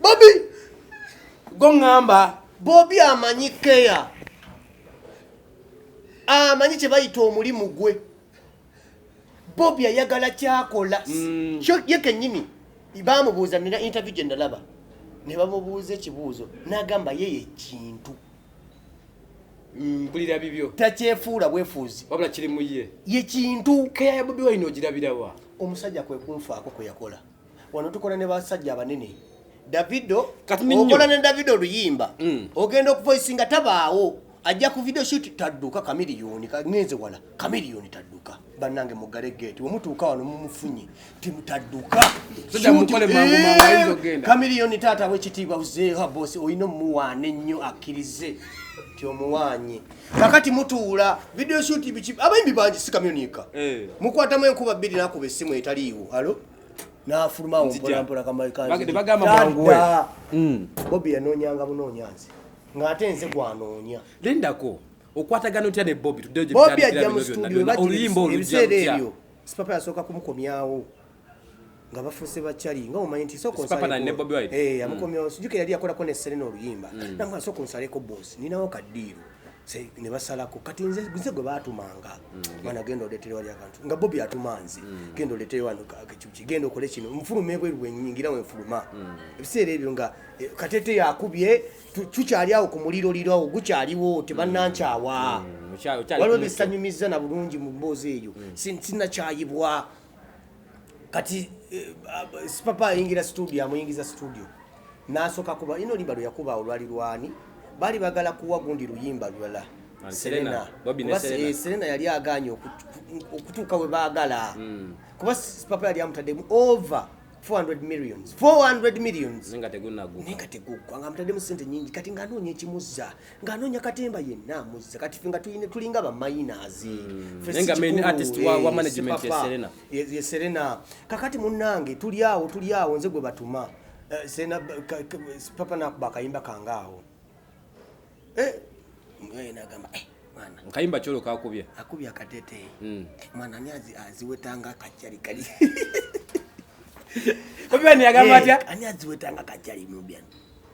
bobi goŋŋamba bobi amanyi keya amanyi kye bayita omulimu gwe bobi ayagala kyakola mm. kyo ye kennyini baamubuuza nina interview gye nalaba ne bamubuuza ekibuuzo n'agamba ye yekintu mm, mpulira bibyo takyefuula bwefuuzi wabula kiri mu ye yekintu keya ya bobi wine ogirabirawa omusajja kwe kunfaako kwe yakola wano tukola ne basajja abanene davido okola ne davido oluyimba mm. ogenda okuvoisi nga tabaawo ajja ku video shoot tadduka kamiliyoni ngenze wala kamiliyoni tadduka bannange mugale gate wemutuuka wano mumufunye timutadduka eh, kamiliyoni taata wekitiibwa uzeeha bosi olina omuwaana ennyo akkirize ti omuwaanye kakati mutuula video shoot biki abayimbi bangi si kamyonika eh. mukwatamu enkuba bbiri nakuba essimu etaliiwo alo nafulumawo mpolampola kamakanbagambamwanguwe hmm. bobi yanoonyanga bunoonyanzi ng'ate nze gwanoonya lindako okwatagana otya ne bobi tuddeyo bobi ajja mu studio bagibiseera ebyo sipapa yasooka kumukomyawo nga bafuuse bakyali nga omanyi nti sooka eh, amukomyawo mm. sijuka yali yakolako ne serena oluyimba mm. namwana sooka onsaleko boosi ninawo kaddiiro ne basalako kati nze nze gwe baatumanga mm. mwana genda oleetere wali akantu nga bobi atuma nze genda oleetere wano kiki genda okole kino nfuluma ebweru wenyingira wenfuluma ebiseera ebyo nga eh, katete yakubye tukyali awo ku muliro liro awo gukyaliwo tebanankyawa waliwo bisanyumizza na bulungi mu mboozi eyo sinakyayibwa kati eh, ah, sipapa ayingira studio amuyingiza studio nasoka kuba ino limba lweyakuba olwali lwani bali bagala kuwa gundi luyimba lulala serena eh, yali aganye okutuuka we baagala hmm. kuba sipapa yali amutaddemu over 400 millions 400 millions nga teguggwa nga amutaddemu sente nyingi kati nga anoonya ekimuzza ng'anoonya katemba yenna amuzza kati fe nga tulinga bamayinazi hmm. ye serena kakati munnange tuli awo tuli awo nze gwe batuma eh, serena papa nakuba akayimba kange awo eh, nagamba eh, nkayimba kyolo kakubye akubye akatete hmm. mwana ani aziwetanga akajjali kali obiani yagamba atya ani aziwetanga akajjali mubyani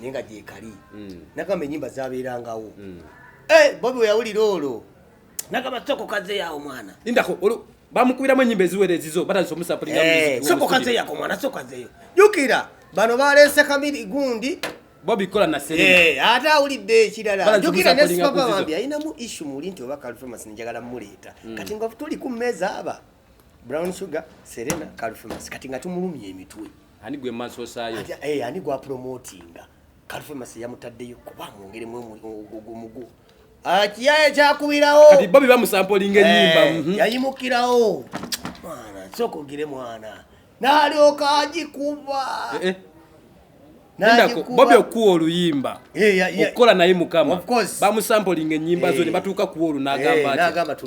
naye nga gyekali mm. nagamba enyimba zabeerangawo mm. eh, bobi weyawulira olwo nagamba soko kaze yawo mwana indako bamukubiramu enyimba eziwera ezizo batandisa omusapulinga eh, soko kaze yako mwana soko kazeyo jukira bano baleese kabiri gundi bobi kola na serena eh, ate awulidde ekirala jukira ne sipapa bambi alinamu ishu muli nti oba kalifamasi njagala muleeta mm. kati nga tuli ku mmeeza aba Brown Sugar, Serena, Kalfemas. Kati nga tumulumye emitwe. Ani gwe maso sayo? Ati eh ani gwa promotinga. Kalfemas yamutaddeyo kuba mwongere mwe omugu. Akiya ekyakubirawo. Kati Bobby bamusampolinga ennyimba. Eh, mhm. Yayimukirawo. Mwana, soko gire mwana. Nalyoka ajikuba. Eh, eh. bobi okuwa oluyimba eh, okukola naye mukama bamusampolinga enyimba zo ne batuuka kuwa olunagamba ati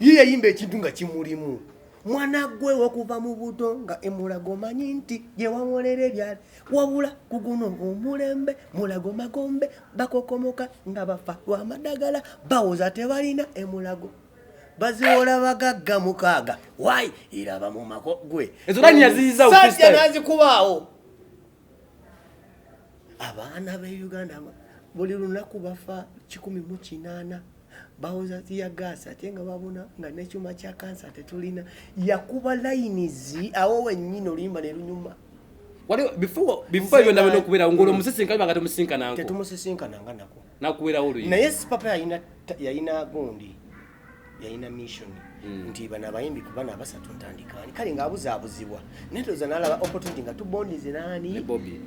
ye yayimba ekintu nga kimulimu mwana gwe okuva mu buto nga emulago manyi nti gyewawolera ebyali wabula ku guno omulembe mulago magombe bakokomoka nga bafa lwamadagala bawoza tebalina emulago baziwola bagagga mukaaga wayi iraba mu mako gwe ezolani yaziyiza ofisajja nazikubaawo abaana be uganda buli lunaku bafa kikumi mu kinaana bawoza ya gaasi ate nga babona nga nekyuma kya kansa tetulina yakuba layinizi awo wenyini oluyimba nelunyuma naye sipapa yayina gundi yalina mission hmm. nti bana abayimbi ku bana abasatu ntandikaani kale ng'abuzaabuzibwa naye toza nalaba opportunity nga tubondinze naani ne bobi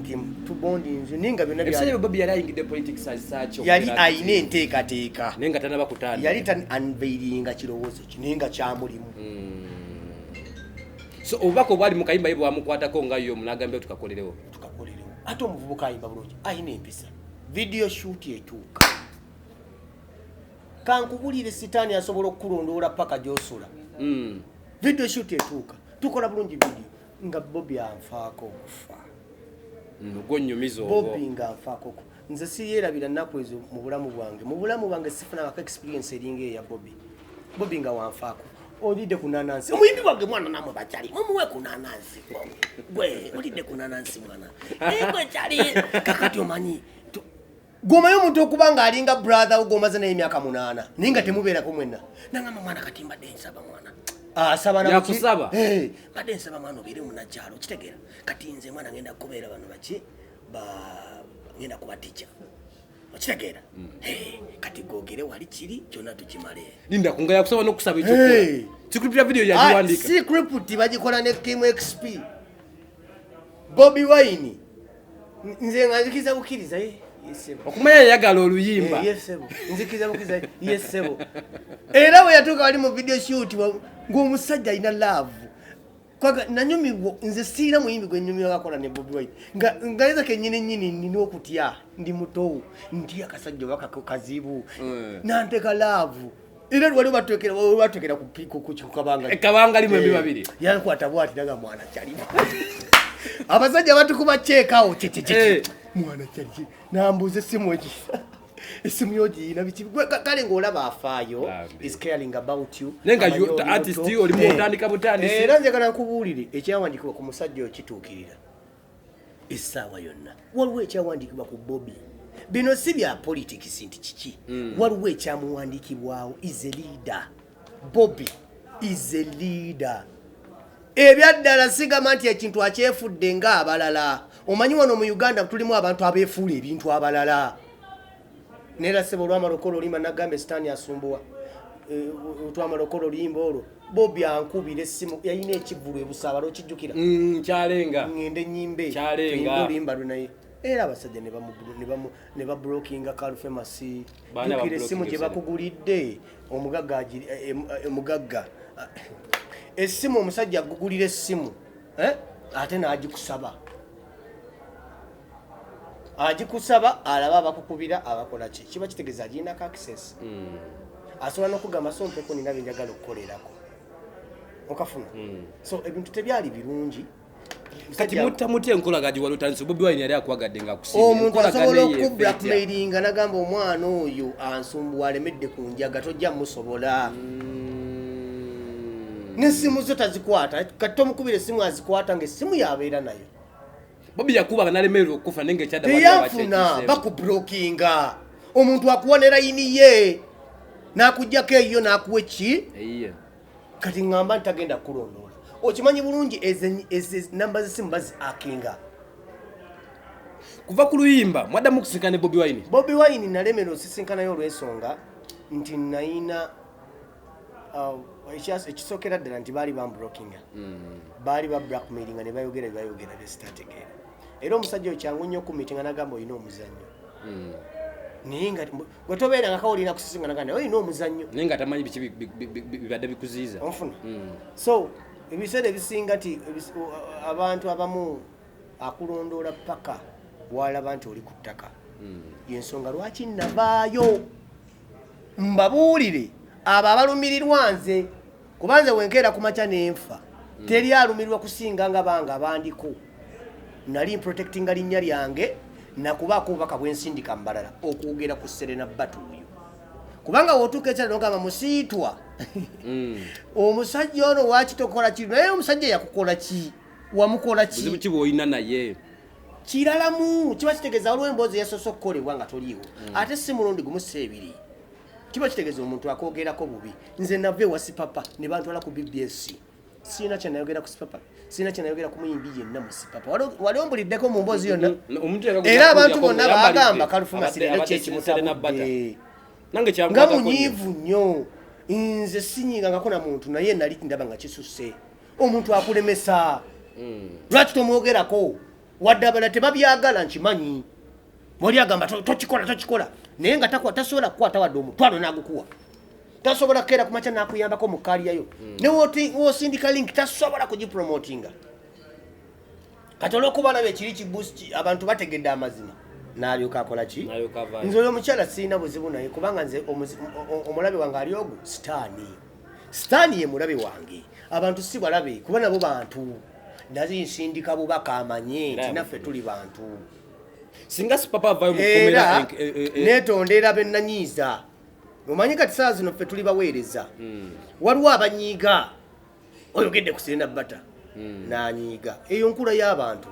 nti tubondinze naye nga byonnabobi yali ayingidde politics azisaakyo yali alina enteekateeka naye nga tanaba kutanda yali tan anveiringa kirowoozo ki naye nga kyamulimu hmm. so obubaka obwali mu kayimba ye bwamukwatako nga yo munagambye tukakolerewo tukakolerewo ate omuvubuka ayimba bulungi alina empisa video shoot etuuka kankubulire sitaani asobola okukulondoola paka gyosula mm. video shut etuuka tukola bulungi video nga bobi anfaako okufa mm, gwonyumizabobi nga anfaako okufa nze siyerabira nnaku ezo mu bulamu bwange mu bulamu bwange sifunangako experience eringa eya bobi bobi nga wanfaako olidde ku nanansi omuyimbi wange mwana namwe bakyali mumuwe ku nanansi gwe olidde ku nanansi mwana egwe eh, kyali kakati omanyi gomayo omuntu okuba nga alinga brother wo gomaze naye emyaka munaana naye nga temubeerako mwenna nangamba mwana kati mbadde nsaba mwana asabayakusaba ah, eh, mbadde nsaba mwana obeere munakyalo kitegeera kati nze mwana ngenda kubeera bano baki ngenda kuba tica okitegeera mm. eh, kati gogere wali kiri kyonna tukimale linda kunga yakusaba nokusaba ekyokola eh. sikriptira video yagiwandika ah, sikripti bagikola ne kim xp bobi wine nze nga nzikiriza bukkiriza eh, okumanya yayagala oluyimba eh, nzikiriza bukkiriza ye ssebo era bwe yatuuka wali mu video shoot ng'omusajja alina laavu kwaga nanyumibwa nze siina muyimbi gwe nyumira bakola ne bobi wine nga ngayeza kenyini nyini nina okutya ndi mutowu ndi akasajja oba kazibu mm. nanteka laavu Ile wali batwekera wali batwekera ku ku ku kabanga. E kabanga limwe mbi babiri. Eh, Yana kwa tabu ati daga mwana chali. Abasaja watu kuba check out. Che che che. Eh. Mwana chali. Na mbuze simu eji. Simu yoji na bichi. Kale ngola ba fayo is caring about you. Nenga you the artist you oli mutandika mutandisi. Eh, eh, nanje kana kubulire ekyawandikwa ku musajja okitukirira. essaawa yonna waliwo ekyawandiikibwa ku bobi bino si bya politics nti kiki hmm. waliwo ekyamuwandiikibwawo is a leader bobi is a leader ebyaddala sigamba nti ekintu akyefudde nga abalala omanyi wano mu uganda tulimu abantu abeefuula ebintu abalala nera sebo olwamala okola oluyimba nagamba esitaani asumbuwa eh, otwamala okola oluyimba olwo bobi ankubira essimu yalina ekivulu ebusaabala okijjukira mm, kyalenga ngende nyimba ekyalenga oluyimba lwe naye era abasajja ne bablokinga kalfemasi jukira essimu gye bakugulidde omugagga eh, eh, omugagga ah, essimu omusajja agugulira essimu ate n'agikusaba agikusaba alaba abakukubira abakola ki kiba kitegeeza agirinako access hmm. asobola nokugamba so mpeko nina byenjagala okukolerako okafuna hmm. so ebintu tebyali birungi kati mutta mutya enkolaga giwali otandise bobi wine yali akwagadde nga omuntu asobola okublackmailinga nagamba omwana oyo ansumbuwa alemedde ku njaga tojja musobola hmm. nesimu zo tazikwata kati tomukubira esimu azikwata nga esimu yabeera nayo bobi yakuba banalemererwa okufa nenge kyadayafuna bakubrokinga omuntu akuwa ne layini ye nakujjako eyiyo nakuwa eki kati ngamba nti tagenda kulondoola okimanyi bulungi namba zesimu bazi akinga kuva ku luyimba mwaddamu okusinkana ne bobi wine bobi wine nalemera osisinkanayo olwensonga nti nayina Um, ekisokera ddala nti baali bambrokinga mm. baali ba blackmailinga ne bayogera byebayogera byesitategeera era omusajja oyo kyangu nnyo okumitinga nagamba olina omuzannyo mm. naye nga gwe tobeera nga kawulina kusisinga nagamba naye olina omuzannyo naye nga tamanyi biki bibadde bikuziiza onfuna mm. so ebiseera ebisinga nti abantu abamu akulondoola paka walaba nti oli ku ttaka yensonga lwaki nabaayo mbabuulire abo abalumirirwa nze kuba nze wenkeera ku makya nenfa hmm. teri alumirirwa kusinga nga banga bandiko nali mprotectinga linnya lyange nakubaako obubaka bwensindika mubalala okwogera ku serena batuuyo kubanga wotuuka ekyalo nogamba musiitwa mm. omusajja ono wakitokola ki naye omusajja yakukola ki wamukola ki bwolina naye kiralamu kiba kitegeeza waliwo emboozi yasoose okukolebwa nga toliiwo mm. ate si mulundi gumu si ebiri kiba kitegeeza omuntu akwogerako bubi nze nava ewa sipapa ne bantwala ku bbs sirina kyenayogera ku sipapa sirina kyenayogera ku muyimbi yenna mu sipapa wali ombuliddeko mu mboozi yonna mm-hmm. era abantu bonna bagamba kalufuma sirina kyekimutabudde nga munyiivu nnyo nze sinyingangako na muntu naye nali ndaba nga kisusse omuntu akulemesa hmm. lwaki tomwogerako wadde abala tebabyagala nkimanyi wali agamba tokikola tokikola naye nga tasobola kukwata wadde omutwalo nagukuwa tasobola kukeera kumakya nakuyambako mu kaliyayo hmm. newosindika link tasobola kugipromotinga kati olwokuba alaba ekiri kibus abantu bategedde amazima nalyoka akola ki nze oyo omukyala sirina buzibu naye kubanga nze omulabe wange ali ogu sitaani sitaani ye mulabe wange abantu si balabe kuba nabo bantu naye nsindika bubaka amanye nti naffe tuli bantu singa sipapa avayo era eh, eh, eh. netondera benanyiiza omanyi kati saa zino ffe tuli baweereza hmm. waliwo abanyiiga oyogedde ku sirena bata hmm. nanyiiga eyo nkula y'abantu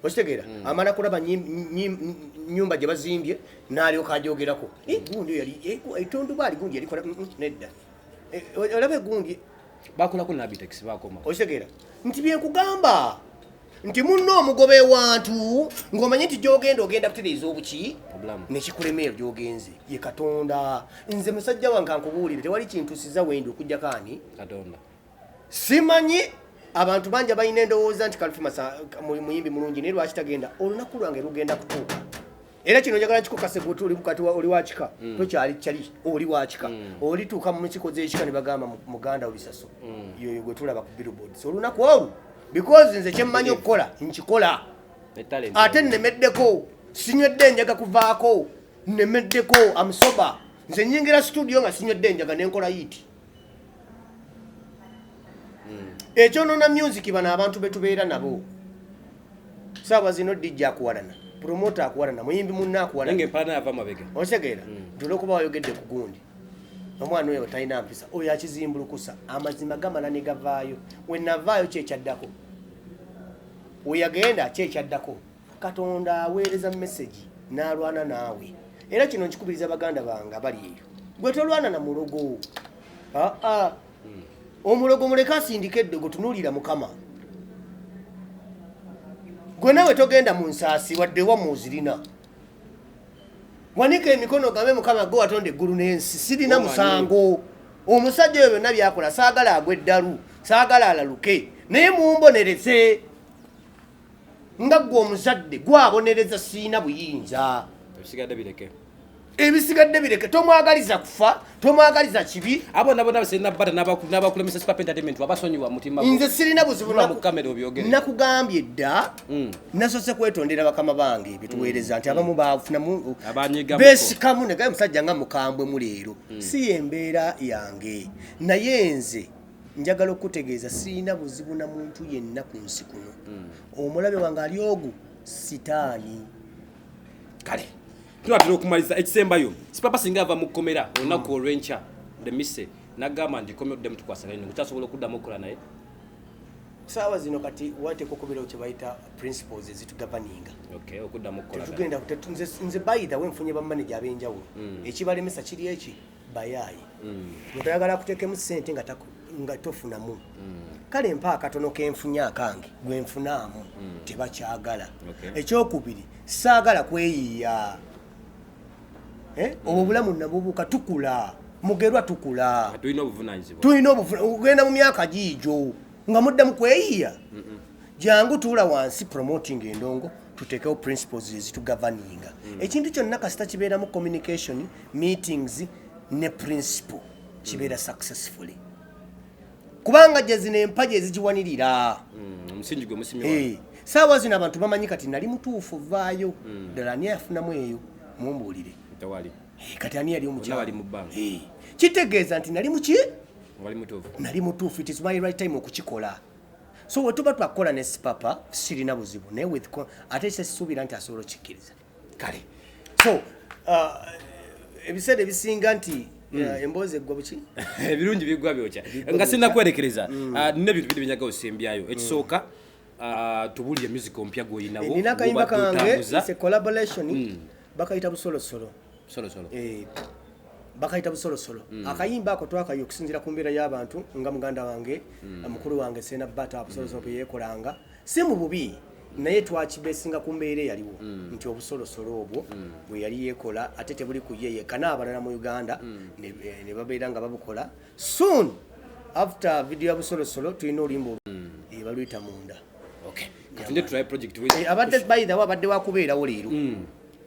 okitegeera mm. amala kulaba nyumba gye bazimbye n'alyoka ajogerako eh, egundi yali eh, etonduba ali gundi yalikola mm, mm, nedda eh, olaba egundi bakolako nabitex bakoma okitegeera nti byenkugamba nti munno omugoba ewantu ng'omanyi nti gyogenda ogenda kutereeza obuki nekikulemeero gyogenze ye katonda nze musajja wange ankubuulire tewali kintu siza wendi okujjako ani katonda simanyi abantu bangi abalina endowooza nti kalifimasa muyimbi mulungi naye lwaki tagenda olunaku lwange lugenda kutuuka era kino njagala kikukase gwe tuli kukati oli wakika mm. tokyali kyali oli wakika mm. olituuka mu nsiko z'ekika ne bagamba muganda obisaso mm. yoyo gwe tulaba ku billboards olunaku olwo because nze kyemmanyi okukola nkikola ate nnemeddeko sinywedde njaga kuvaako nnemeddeko amusoba nze nyingira studio nga sinywedde njaga nenkola yiti hmm. ekyonona music bano abantu betubeera nabo saawa zino dj akuwalana promota akuwalana muyimbi munna akuwalanaosegeera hmm. nti olwokuba wayogedde ku gundi omwana oyo talina mpisa oyo akizimbulukusa amazima gamala ne gavaayo wenavaayo kyekyaddako weyagenda kyekyaddako katonda aweereza mesegi n'alwana naawe era kino nkikubiriza baganda bange abali eyo gwe tolwana na mulogo aa omulogo muleke asindika eddogo tunuulira mukama gwe nawe togenda mu nsaasi wadde wamu ozirina wanika emikono gambe mukama gwe watonda eggulu n'ensi sirina musango omusajja oyo byonna byakola saagala agwa eddalu saagala alaluke naye mumbonereze nga gwe omuzadde gwabonereza siina buyinza ebisigadde bireke ebisigadde bireke tomwagaliza kufa tomwagaliza kibi abo nabo nabo sirina bata nabakulemesa super entertainment wabasonyiwa mutima nze sirina buzibu mu kamera obyogere nakugambye dda mm. nasose kwetondera bakama bange bituweereza mm. nti abamu mm. bafunamu besikamu negaye musajja nga mukambwe mu leero si yembeera yange naye nze njagala okukutegeeza sirina buzibu na muntu yenna ku nsi kuno hmm. omulabe wange ali ogu sitaani kale tulatera okumaliza ekisembayo sipapa singa ava mu kkomera olunaku hmm. olwenkya lemise nagamba nti komera oddemu tukwasagane ne kukyasobola okuddamu okukola naye saawa zino kati wateeka okubeerawo kyebayita principles ezitugavaninga okuddamu okukola tetugenda nze bayitha wenfunye bamaneja ab'enjawulo hmm. ekibalemesa kiri eki bayaaye nga toyagala akuteekemu ssente nga taku- nga tofunamu kale mpa akatono kenfunye akange gwenfunaamu tebakyagala Okay. ekyokubiri saagala kweyiiya Eh, obwo obulamu nabubuuka tukula mugerwa tukula tulina obuvunanyizibwa tulina obuvuna- okugenda mu myaka giijo nga muddamu kweyiiya jangu tuula wansi promoting endongo tutekewo principles ezitugavaninga mm. ekintu kyonna kasita kibeeramu communication meetings ne principle kibeera mm. successfully kubanga jazino empaji ezigiwanirira mm, eh, saawa zino abantu bamanyi kati nali mutuufu vaayo mm. ddala ani afunamu eyo mumbuulire eh, kati ani yali omukyali eh, kitegeeza nti nali muki nali mutuufu it is my right time okukikola so wetuba twakukola ne sipapa sirina buzibu naye with ate sesisuubira nti asobola okikkiriza kale so uh, ebiseera ebisinga nti uh, hmm. emboozi eggwa buki ebirungi biggwa byokya nga sirina kwerekereza hmm. uh, nina ebintu biri byenjaga osembyayo ekisooka hmm. tubulire music ompya gwoyinawo eh, nina akayimba kange collaboration bakayita busolosolo eh, bakayita busolosolo mm. akayimba ako twakayo okusinzira ku mbeera y'abantu nga muganda wange mm. mukulu wange sena bata busolosolo bwe yeekolanga si mu bubi naye twakibesinga ku mbeera eyaliwo mm. nti obusolosolo obwo mm. bwe yali yeekola ate tebuli ku ye yekka n'abalala mu uganda mm. eh, ne babeera nga babukola soon after video ya busolosolo tulina oluyimba ebaluyita eh, munda eh, abadde by the way abadde wakubeerawo leero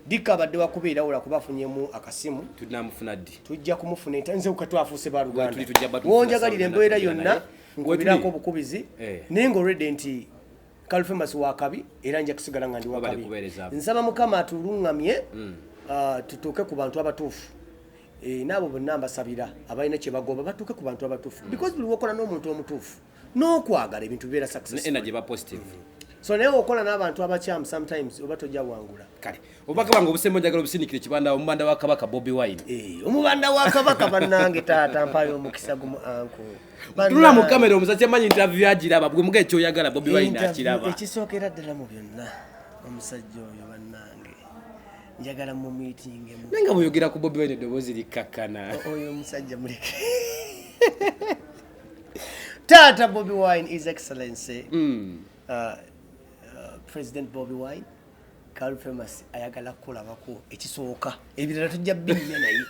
Dikka abadde wakubeerawo lwakuba afunyemu akasimu. Tunamufuna ddi? Tujja kumufuna enta nze kuka twafuuse ba Luganda. Wonjagalira embeera yonna nkubirako obukubizi eh. naye nga already nti Kalfemas wakabi era nja kusigala nga ndi wakabi. Nsaba Mukama atulungamye mm. ah, tutuuke ku bantu abatuufu. Eh, n'abo bonna mbasabira abalina kye bagoba batuuke ku bantu abatuufu mm. because buli wokola n'omuntu omutuufu n'okwagala ebintu bibeera success energy ba positive mm -hmm. so naye okola n'abantu abakyamu sometimes oba tojja wangula kale obubaka bwange obusemba njagala obusindikire kibanda omubanda wa kabaka bobi wine eh, omubanda wa kabaka bannange taata mpayo omukisa gumu anku tula mu kamera omusajja manyi interview agiraba bwe muga ekyoyagala bobi wine akiraba ekisookera ddala mu byonna omusajja oyo bannange njagala mu meeting emu naye nga bweyogera ku bobi wine eddoboozi likkakkana oyo omusajja muleke Tata Bobby Wine, His Excellency, mm. uh, uh, President Bobby Wine, Carl Famous, ayagala kulabako ekisooka ebirala tujja binya naye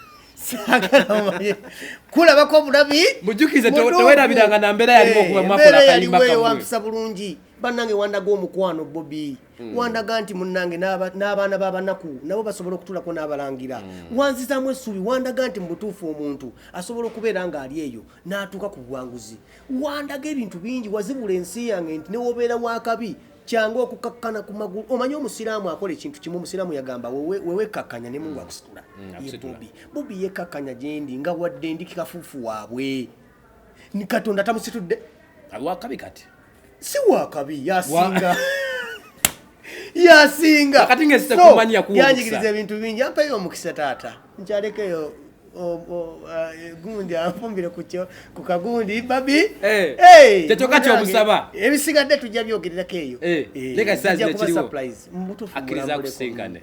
kulabako obulabi mujukize tewerabiranga na mbeera yaliwo okuba mwakola kayimba kamwe bulungi bannange wandaga omukwano Bobby Mm. wandaga nti munange n'abaana b'abanaku nabo basobola okutulako n'abalangira mm. wanzizamu essuubi wandaga nti mubutuufu omuntu asobola okubeera ng'ali eyo n'atuuka ku buwanguzi wandaga ebintu bingi wazibula ensi yange nti newobeera wakabi kyangu okukakkana ku magulu omanyi omusiraamu akola ekintu kimu omusiraamu yagamba wewekakkanya ne mungu mm. akusitula ye bobi bobi yekakkanya gyendi nga wadde ndi kikafuufu waabwe ni katonda tamusitudde wakabi kati si wakabi yasinga yasinga kati nga sita kumanya kuwa yanjigiriza ebintu bingi ampayo omukisa taata nkyalekeyo eh, gundi anfumbire kukyo ku kagundi babi eh. eh, kyekyoka kyomusaba ebisigadde tujja byogererako eyo surprise mbutufu akiriza kusingane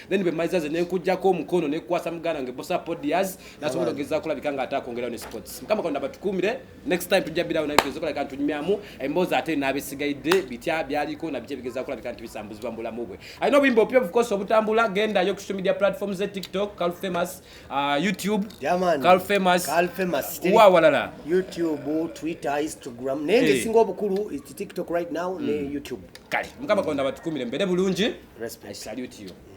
then bemaliza ze nenkujjako omukono nekukwasa muganda wange bosa podias nasobola ogeza kulabika nga ate akwongerawo ne sports mukama katonda batukuumire next time tujja birawo naezokolabika ntunyumyamu emboozi ate naabisigaidde bitya byaliko nabiki ebigeza kulabika nti bisambuzibwa mu bulamu bwe alina obuyimba opya obukosi obutambula genda yo social media platforms ze tiktok cal famous uh, youtube cal famous wa walala youtube twitter instagram naye ngesinga eh. obukulu tiktok right now ne hmm. youtube kale mukama katonda batukuumire mbere bulungi i salute you